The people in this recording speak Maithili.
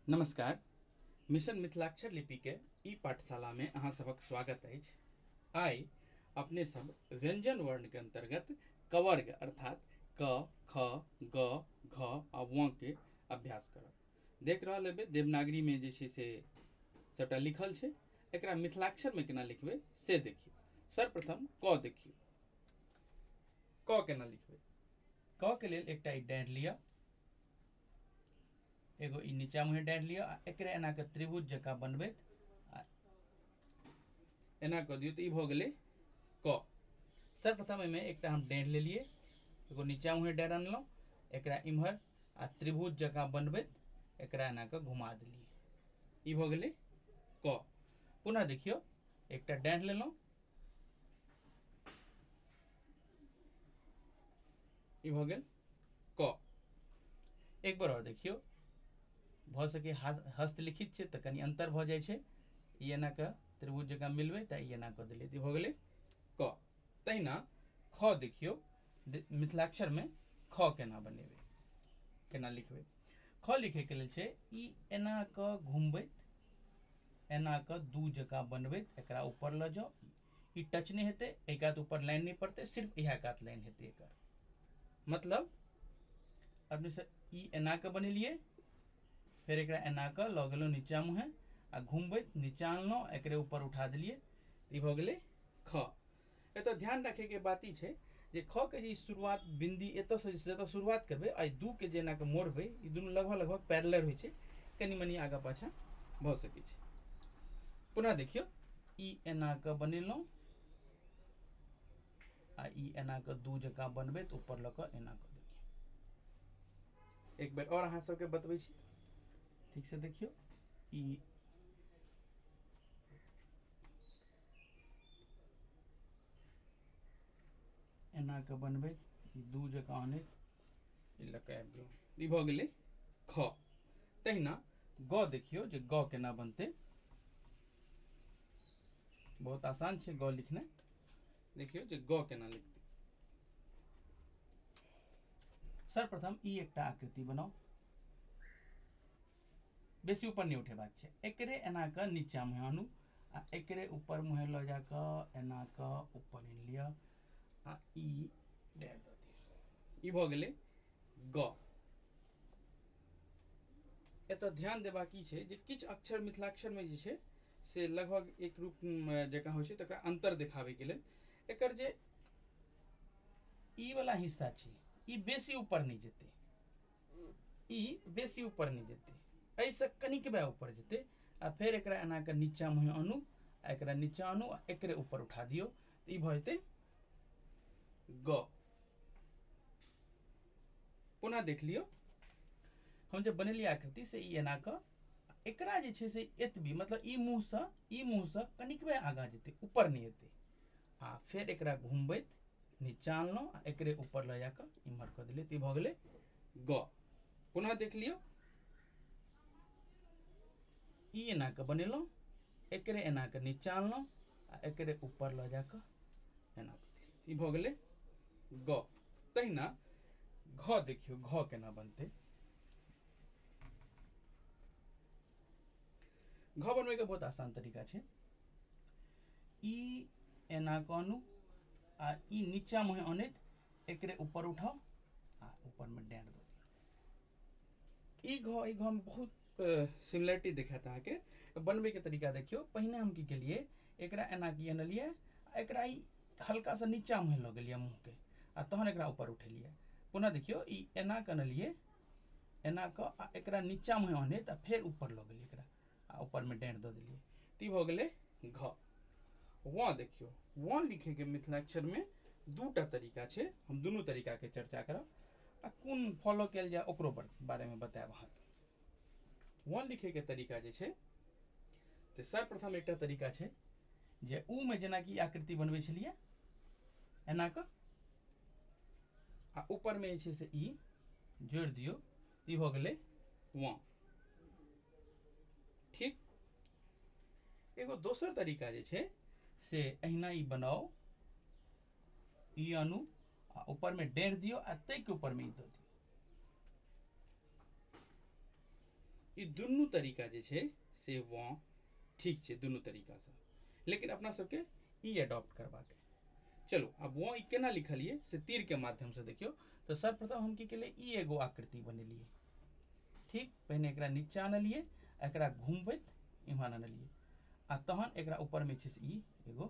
नमस्कार मिशन मिथिलाक्षर लिपिके ई पाठशालामे अहाँ सभक स्वागत अछि आइ अपने सब व्यंजन वर्णके अन्तर्गत कवर्ग अर्थात क ख ग घ आ वं के अभ्यास करब देख रहल हेबै देवनागरीमे जे छै से सभटा लिखल छै एकरा मिथिलाक्षरमे केना लिखबै से देखियौ सर्वप्रथम क देखियौ क केना लिखबै क के लेल एकटा डाँडि लिअ एगो ई नीचा मुँहे डारि लिअ आ एकरे एना कऽ त्रिभुज जकाँ बनबैत आ एना कऽ दियौ तऽ ई भऽ गेलै क सर्वप्रथम एहिमे एकटा हम डारि लेलियै एगो नीचा मुँहे डारि अनलहुँ एकरा इम्हर आ त्रिभुज जकाँ बनबैत एकरा एना कऽ घुमा देलियै ई भऽ गेलै क पुनः देखियौ एकटा डारि लेलहुँ ई भऽ गेल क एक बार और देखियो भ सके हस्तलिखित छै त कनी अंतर भ जाय छै ई एना क त्रिभुज जकाँ मिलबै त ई एना क देलिए त भ गेलै क तहिना ख देखियो मिथिलाक्षर में ख केना बनेबै केना लिखबै ख लिखे के लेल छै ई एना क घुमबैत एना क दू जकाँ बनबैत एकरा ऊपर ल जाओ ई टच नहि हेतै एहि कात ऊपर लाइन नहि पड़तै सिर्फ इएह कात लाइन हेतै एकर मतलब अपने से ई एना कऽ बनेलियै फेर एकरा एना कऽ लऽ गेलहुँ नीचा मुँहे आ घुमबैत नीचा अनलहुँ एकरे ऊपर उठा देलियै तऽ ई भऽ गेलै ख एतय ध्यान रखैके बात ई छै जे ख के जे शुरुआत बिन्दी एतयसँ जतय शुरुआत करबै एहि दू के जे एना कऽ मोड़बै ई दुनू लगभग लगभग पैरलर होइ छै कनि मनि आगाँ पाछाँ भऽ सकै छै पुनः देखियौ ई एना कऽ बनेलहुँ आ ई एना कऽ दू जकाँ बनबै तऽ ऊपर लऽ कऽ एना कऽ देलियै एक बेर आओर अहाँ सभके बतबै छी ठीकसँ देखियौ ई एना कऽ बनबैत दू जकाँ अनैत ई लऽ कऽ आबि जाउ ई भऽ गेलै ख तहिना ग देखियौ जे ग केना बनतै बहुत आसान छै ग लिखनाइ देखियौ जे ग केना लिखतै सर्वप्रथम ई एकटा आकृति बनाउ बेसी ऊपर नहि उठेबाक छै एकरे एना कऽ नीचा मुँह आनू आ एकरे ऊपर मुँह लऽ जा कऽ एना कऽ ऊपर आनि लिअ आ ई डैल दऽ दियौ ई भऽ गेलै ग एतऽ ध्यान देबाक की छै जे किछु अक्षर मिथिलाक्षरमे जे छै से लगभग एक रूप जकाँ होइ छै तकरा अन्तर देखाबैके लेल एकर जे ई वाला हिस्सा छै ई बेसी ऊपर नहि जेतै ई बेसी ऊपर नहि जेतै एहिसँ कनिकबे ऊपर जेतै आ फेर एकरा एना कऽ नीचाँ मुँहे आनू आ एकरा नीचाँ आनू आ एकरे ऊपर उठा दियौ ई भऽ जेतै ग पुनः देख लियौ हम जे बनेलियै आकृति से ई एना कऽ एकरा जे छै से एतबी मतलब ई मुँहसँ ई मुँहसँ कनिकबे आगाँ जेतै ऊपर नहि हेतै आ फेर एकरा घुमबैत नीचाँ अनलहुँ आ एकरे ऊपर लऽ जा कऽ इम्हर कऽ देलियै तऽ ई भऽ गेलै ग पुनः देख लियौ ई एना कऽ बनेलहुँ एकरे एना कऽ नीचा अनलहुँ आ एकरे ऊपर लऽ जा कऽ एना ई भऽ गेलै ग तहिना घ देखियौ घ केना बनतै घ बनबैके बहुत आसान तरीका छै ई एना कऽ आनू आ ई नीचा मुहे अनैत एकरे ऊपर उठाउ आ ऊपरमे डाँट दऽ ई घ ई घमे बहुत सिमिलरिटी देखायत अहाँके तऽ बनबैके तरीका देखियौ पहिने हम की केलियै एकरा एना कऽ अनलियै आ एकरा ई हल्का सा नीचाँ मुँहे लऽ गेलियै मुँहके आ तहन एकरा ऊपर उठेलियै पुनः देखियौ ई एना कऽ अनलियै एना कऽ आ एकरा नीचाँ मुँहे अनैत आ फेर ऊपर लऽ गेलियै एकरा आ ऊपरमे डाँड़ि दऽ देलियै तऽ ई भऽ गेलै घ वाँ देखियौ वाँ लिखैके मिथिलाक्षरमे दू टा तरीका छै हम दुनू तरीकाके चर्चा करब आ कोन फॉलो कयल जाय ओकरो बारेमे बतायब अहाँकेँ वन लिखैके तरीका जे छै तऽ सर्वप्रथम एकटा तरीका छै जे ऊमे जेनाकि आकृति बनबै छलियै एना कऽ आ ऊपरमे जे छै से ई जोड़ि दियौ ई भऽ गेलै वाँ ठीक एगो दोसर तरीका जे छै से अहिना ई बनाउ ई आनू आ ऊपर में डेढ़ दियो आ तय के ऊपर में ई दऽ दियो ई दुनू तरीका जे छै से वँ ठीक छै दुनू तरीकासँ लेकिन अपना सबके ई एडॉप्ट करबाक अइ चलू आब वँ ई केना लिखलियै से तीरके माध्यमसँ देखियौ तऽ सर्वप्रथम हम की केलियै ई एगो आकृति बनेलियै ठीक पहिने एकरा नीचा आनलियै आ एकरा घुमबैत इम्हर आनलियै आ तहन एकरा ऊपरमे छै से ई एगो